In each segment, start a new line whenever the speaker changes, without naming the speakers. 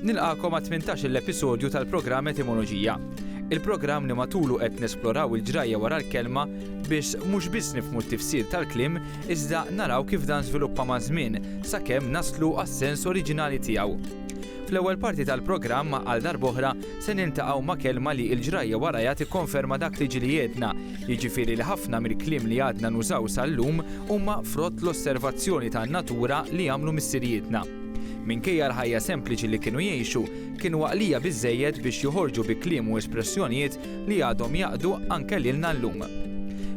Nilqakom għat 18 l-episodju tal-programm Etimoloġija. Il-programm li matulu qed nesploraw il-ġrajja wara l-kelma biex mhux biss nifmu t-tifsir tal-klim iżda naraw kif dan żviluppa ma' żmien sakemm naslu għas-sens oriġinali tiegħu. Fl-ewwel parti tal-programm għal darboħra se niltaqgħu ma' kelma li l-ġrajja warajha tikkonferma dak li ġieli għedna, jiġifieri li ħafna mill-kliem li għadna nużaw sal-lum huma frott l-osservazzjoni tan-natura li għamlu missirijietna. Minkejja l-ħajja sempliċi li kienu jgħixu, kienu għaqlija biżżejjed biex joħorġu bi kliem u espressjonijiet li għadhom jaqdu anke lilna llum.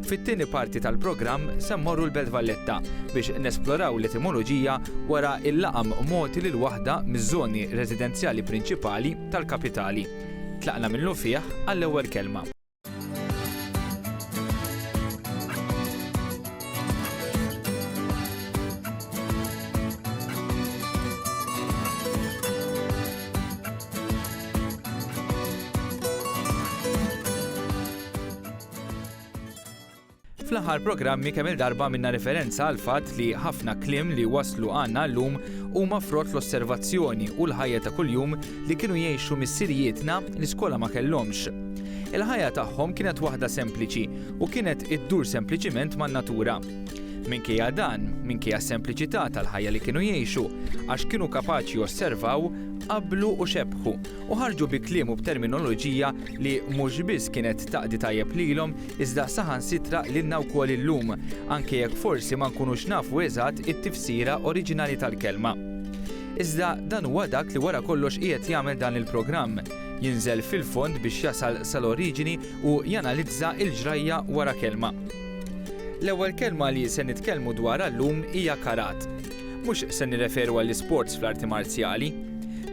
Fit-tieni parti tal-programm se mmorru l-Belt Valletta biex nesploraw l-etimoloġija wara l-laqam mogħti lil waħda miż-żoni residenzjali prinċipali tal-kapitali. Tlaqna minnu fih għall-ewwel kelma. Fl-aħħar programmi kemm il-darba minna referenza għal fatt li ħafna klim li waslu għandna llum huma frott l-osservazzjoni u l-ħajja ta' kuljum li kienu jgħixu missirijietna li skola ma kellhomx. Il-ħajja tagħhom kienet waħda sempliċi u kienet iddur sempliċiment man-natura. Minkejja dan, minkejja s-sempliċità tal-ħajja li kienu jgħixu, għax kienu kapaċi osservaw, Qablu u xebħu, u ħarġu bi kliem u b'terminoloġija li mhux biss kienet taqdi tajjeb lilhom iżda saħansitra lilna wkoll illum, anke jekk forsi ma nkunux nafu eżatt it-tifsira oriġinali tal-kelma. Iżda dan huwa dak li wara kollox qiegħed jagħmel dan il-programm, jinżel fil-fond biex jasal sal-oriġini u janalizza l-ġrajja wara kelma. L-ewwel kelma li se nitkellmu dwarha llum hija karat. Mhux se nirreferu għall-isports fl-arti marzjali.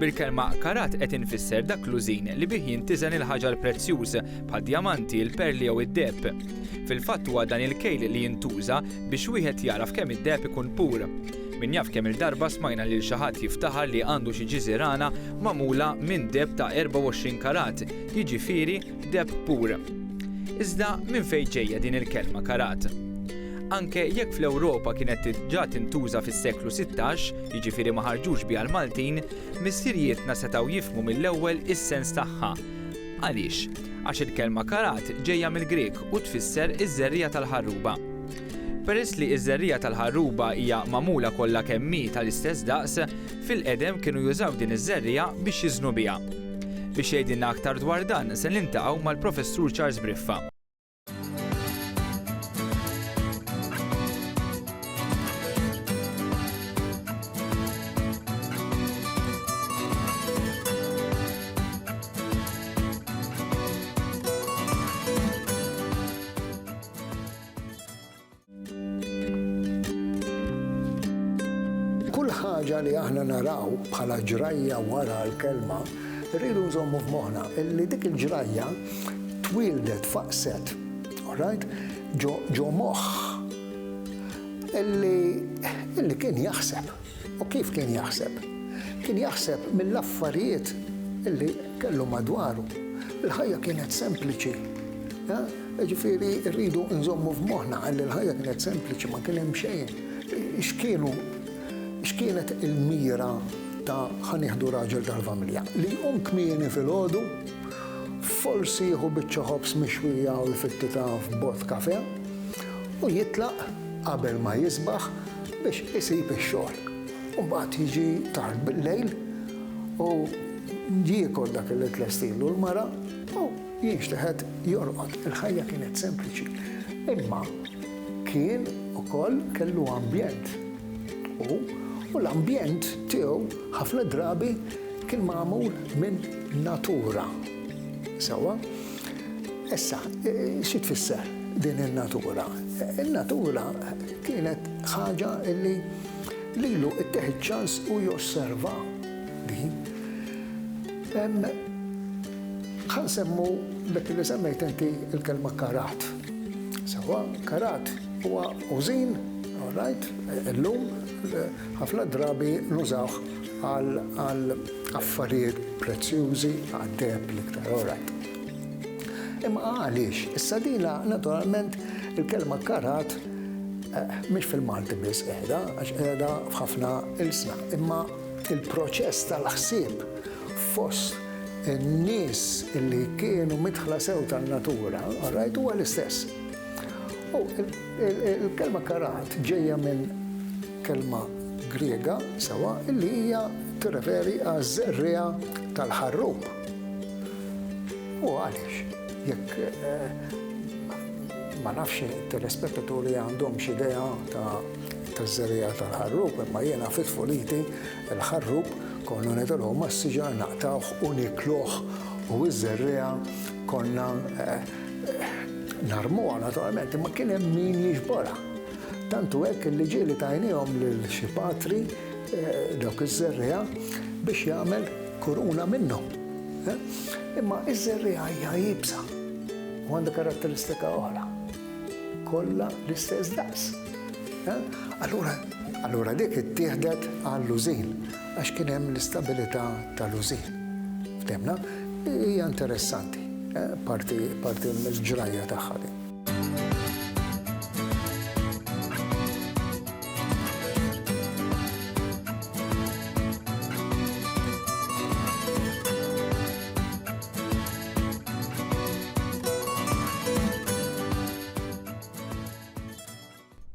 Bil-kelma karat qed infisser dak l-użin li bih jintiżen il-ħaġar prezzjuż, bħad-djamanti, il-perli jew id-deheb. Fil-fatt huwa dan il-kejl li jintuża biex wieħed jagħraf kemm id-deheb ikun pur. Min jaf kemm-il darba smajna lil xi ħadd jiftaħar li għandu xi ġiżirana magħmula minn deheb ta' 24 karat, jiġifieri, Kdeb pur. Iżda minn fejn ġejja din il-kelma karat? Anke jekk fl-Ewropa kienet diġà tintuża fis-seklu sittax, jiġifieri ma ħarġux biha l-Maltin, missirijietna setgħu jifhmu mill-ewwel is-sens tagħha. Għaliex? Għax il-kelma karat ġejja mill-Grieg u tfisser iż-żerriegħa tal-ħarruba. Peress li ż-żerriegħa tal-ħarruba hija magħmula kollha kemm hi tal-istess daqs, Fil-qedem kienu jużaw din iż-żerriegħa biex jiżnu biha. Biex jgħidilna aktar dwar dan se niltaqgħu mal-Professur Charles Briffa.
Kull ħaġa li aħna naraw bħala ġrajja wara l-Kelma, irridu nżommu f'moħħna li dik il-ġrajja twieldet, faqset, all right, ġo moħħ illi kien jaħseb. U kif kien jaħseb? Kien jaħseb mill-affarijiet li kellu madwaru. Il-ħajja kienet sempliċi. Jiġifieri rridu nżommu f'moħħna li l-ħajja kienet sempliċi, ma kien hemm xejn. X'kienu x'kienet il-mira ta' ħa nieħdu raġel tal-familja? Li jqum kmieni filgħodu, forsi jieħu biċċa ħobż mixwija u jfittitha f'bott kafè u jitlaq qabel ma jisbaħ biex isib ix-xogħol. U mbagħad jiġi tard bil-lejl u jiekol dak li tlestilu l-mara u jinxteħet jorqod. Il-ħajja kienet sempliċi. Imma kien ukoll kellu ambjent. U u l-ambjent tiegħu ħafna drabi kien magħmul minn natura. Sewwa? Issa, xi tfisser din in-natura? In-natura kienet ħaġa li lilu ttieħ iċ-ċans u josserva din. Ħa nsemmu dak li semmejt inti l-kelma karat. Sewwa, karat huwa użin, all right, illum ħafna drabi nużawh Għal affarijiet prezzjużi, għad-deheb l-iktar, alright. Imma għaliex? Issa dina, naturalment, il-kelma karat mhix fil-Malti biss qiegħda, għax qiegħda f'ħafna ilsna, imma il-proċess tal-ħsieb fost in-nies li kienu midħla sew tan-natura, alright, huwa l-istess. U Il-kelma karat ġejja minn kelma Griega, sewwa, li hija tirreferi għaż-żerriegħa tal-ħarrub. U għaliex, jekk ma nafx it-telespettaturi għandhomx idea taż-żerriegħa tal-ħarrub, imma jiena fi tfuliti l-ħarrub konna nidhru mas-siġar naqtgħuh u nikluh u ż-żerriegħa konna Narmuha naturalment, imma kien hemm min jiġborha. Tantu hekk li ġieli tajnihom lil xi patri eh, dawk iż-żerriegħa biex jagħmel kuruna minnhom. Eh? Imma iż-żerriegħa hija jibsa u għandha karatteristika oħra. Kollha l-istess daqs. Eh? Allura, allura dik ittieħdet għall-lużin. għax kien hemm l-istabilità tal-użin. Ftemna? Hija interessanti, eh, parti parti mill-ġrajja tagħha din.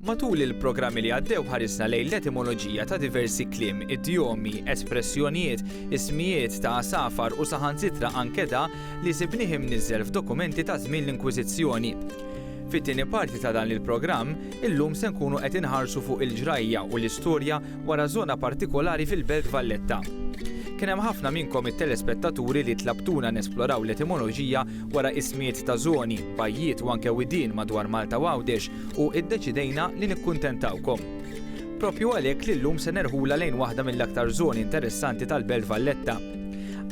Matul il-programmi li għaddew ħarisna lejn l-etimoloġija ta' diversi kliem, idjomi, espressjonijiet, ismijiet ta' għasafar u saħansitra anke da li sibnih imniżżel f'dokumenti ta' żmien l-Inkwiżizzjoni. Fit-tieni parti ta' dan il-programm, illum se nkunu qed inħarsu fuq il-ġrajja u l-istorja wara żona partikolari fil-Belt Valletta. Kien hemm ħafna minnkom it-telespettaturi li tlabtuna nesploraw l-etimoloġija wara ismijiet ta' żoni, bajjiet u anke widien madwar Malta u Għawdex u iddeċidejna li nikkuntentawkom. Proprju għalhekk li llum se nerħulha lejn waħda mill-aktar żoni interessanti tal-Belt Valletta.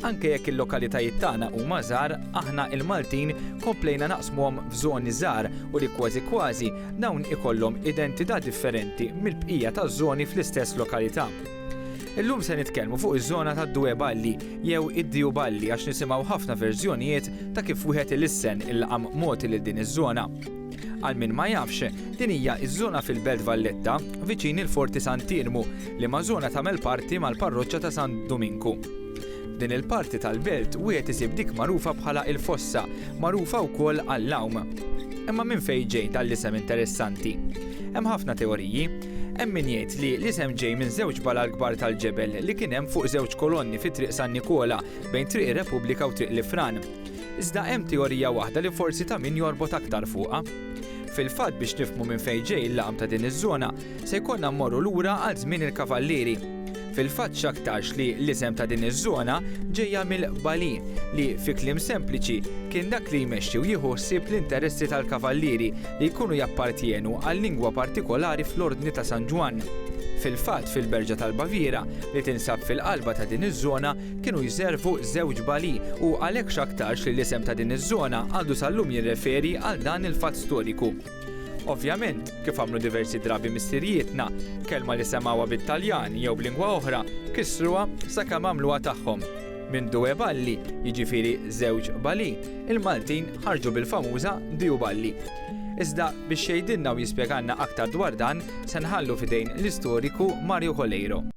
Anke jekk il-lokalitajiet tagħna huma żgħar, aħna il-Maltin komplejna naqsmuhom f'żoni żgħar u li kważi kważi dawn ikollhom identità differenti mill-bqija taż-żoni fl-istess lokalità. Illum se nitkellmu fuq iż-żona tad-Due Balli jew id-Diju Balli għax nisimgħu ħafna verżjonijiet ta' kif wieħed ilissen il-laqam mogħti lil din iż-żona. Għal min ma jafx, din hija ż-żona fil-Belt Valletta, viċin il-Forti Sant'Iermu, liema żona tagħmel parti mal-Parroċċa ta' San Duminku. F'din il-parti tal-Belt wieħed isib dik magħrufa bħala il-Fossa, magħrufa wkoll għall-għawm. Imma minn fejn ġej dan l-isem interessanti? Hemm ħafna teoriji. Hemm min jgħid li l-isem ġej minn żewġ balal kbar tal-ġebel li kien hemm fuq żewġ kolonni fi Triq San Nikola bejn Triq ir-Repubblika u Triq l-Ifran. Iżda hemm teorija waħda li forsi ta' min jorbot aktar fuqha. Fil-fatt biex nifhmu minn fejn ġej il-laqam ta' din iż-żona, se jkollna mmorru lura għal żmien il-Kavallieri. Fil-fatt x'aktarx li l-isem ta' din iż-żona ġejja mill-Qbali li, fi kliem sempliċi, kien dak li jmexxi u jieħu ħsieb l-interessi tal-Kavallieri li jkunu jappartjenu għal lingwa partikolari fl-Ordni ta' San Ġwann. Fil-fatt fil-Berġa tal-Baviera, li tinsab fil-qalba ta' din iż-żona, kienu jservu żewġ bali u għalhekk x'aktarx li l-isem ta' din iż-żona għadu sal-lum jirreferi għal dan il-fatt storiku. Ovvjament, kif għamlu diversi drabi missirijietna, kelma li semgħuha bit-Taljan jew b'lingwa oħra kissruha sakemm għamluha tagħhom. Minn due balli, jiġifieri żewġ bali, il-Maltin ħarġu bil-famuża diu balli. Iżda biex jgħidilna u jispjegalna aktar dwar dan se nħallu f'idejn l-istoriku Mario Coleiro.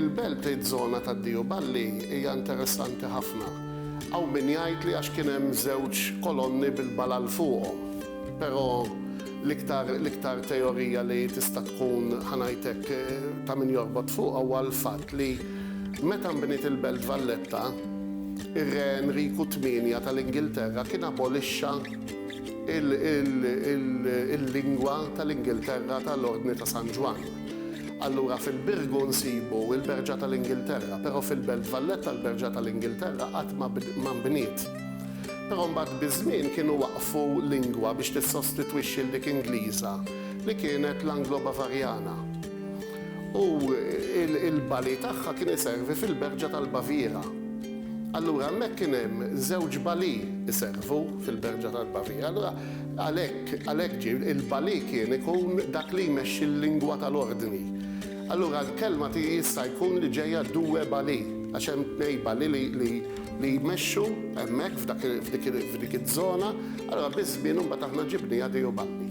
Il-belt tgħid żona tad-Diju Balli hija interessanti ħafna. Hawn min jgħid li għax kien hemm żewġ kolonni bil-balal fuqhom. Però l-iktar l-iktar teorija li tista' tkun, ħa ngħid hekk, ta' min jorbot fuqha huwa l-fatt li meta nbniet il-Belt Valletta, ir-Re Enriku Tmienja tal-Ingilterra kien abolixxa il-lingwa tal-Ingilterra tal-Ordni ta' San Ġwann. Allura fil-Birgu nsibu l-Berġa tal-Ingilterra, però fil-Belt Valletta l-Berġa tal-Ingilterra qatt ma nbniet. Però mbagħad biż-żmien kienu waqqfu lingwa biex tissostitwixxi 'l dik Ingliża li kienet l-Anglo-Bavarjana. U l-bali tagħha kien iservi fil-berġa tal-Baviera. Allura hemmhekk kien hemm żewġ bali jservu fil-berġa tal-Baviera. Allura għalhekk, għalhekk ġie, il-bali kien ikun dak li jmexxi l-lingwa tal-ordni. Allura l-kelma ti jista' jkun li ġejja due bali, għax hemm tnej bali li, li, li jmexxu hemmhekk f'dak, f'dik, f'dik iż-żona. Allura biż-żmien imbagħad aħna ġibniha due balli.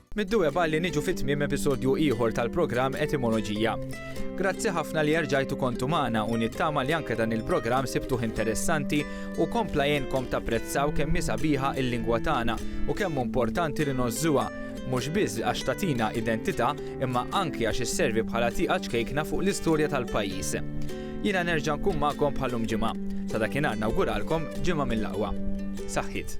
Mid-dweb għal li niġu fi tmiem episodju ieħor tal-programm Etimoloġija. Grazzi ħafna li erġajtu kontu magħna u nittama li anke dan il-programm sibtuh interessanti u kompla jgħinkom tapprezzaw kemm hi sabiħa il-lingwa tagħna u kemm hu importanti li ngħożżuha, mhux biss għax tagħtina identità imma anki għax isservi bħala tieqa ċkejkna fuq l-istorja tal-pajjiż. Jiena nerġa' nkun magħkom bħal lum ġimgħa. Sa dakinhar nawguralkom ġimgħa mill-aqwa. Saħħiet!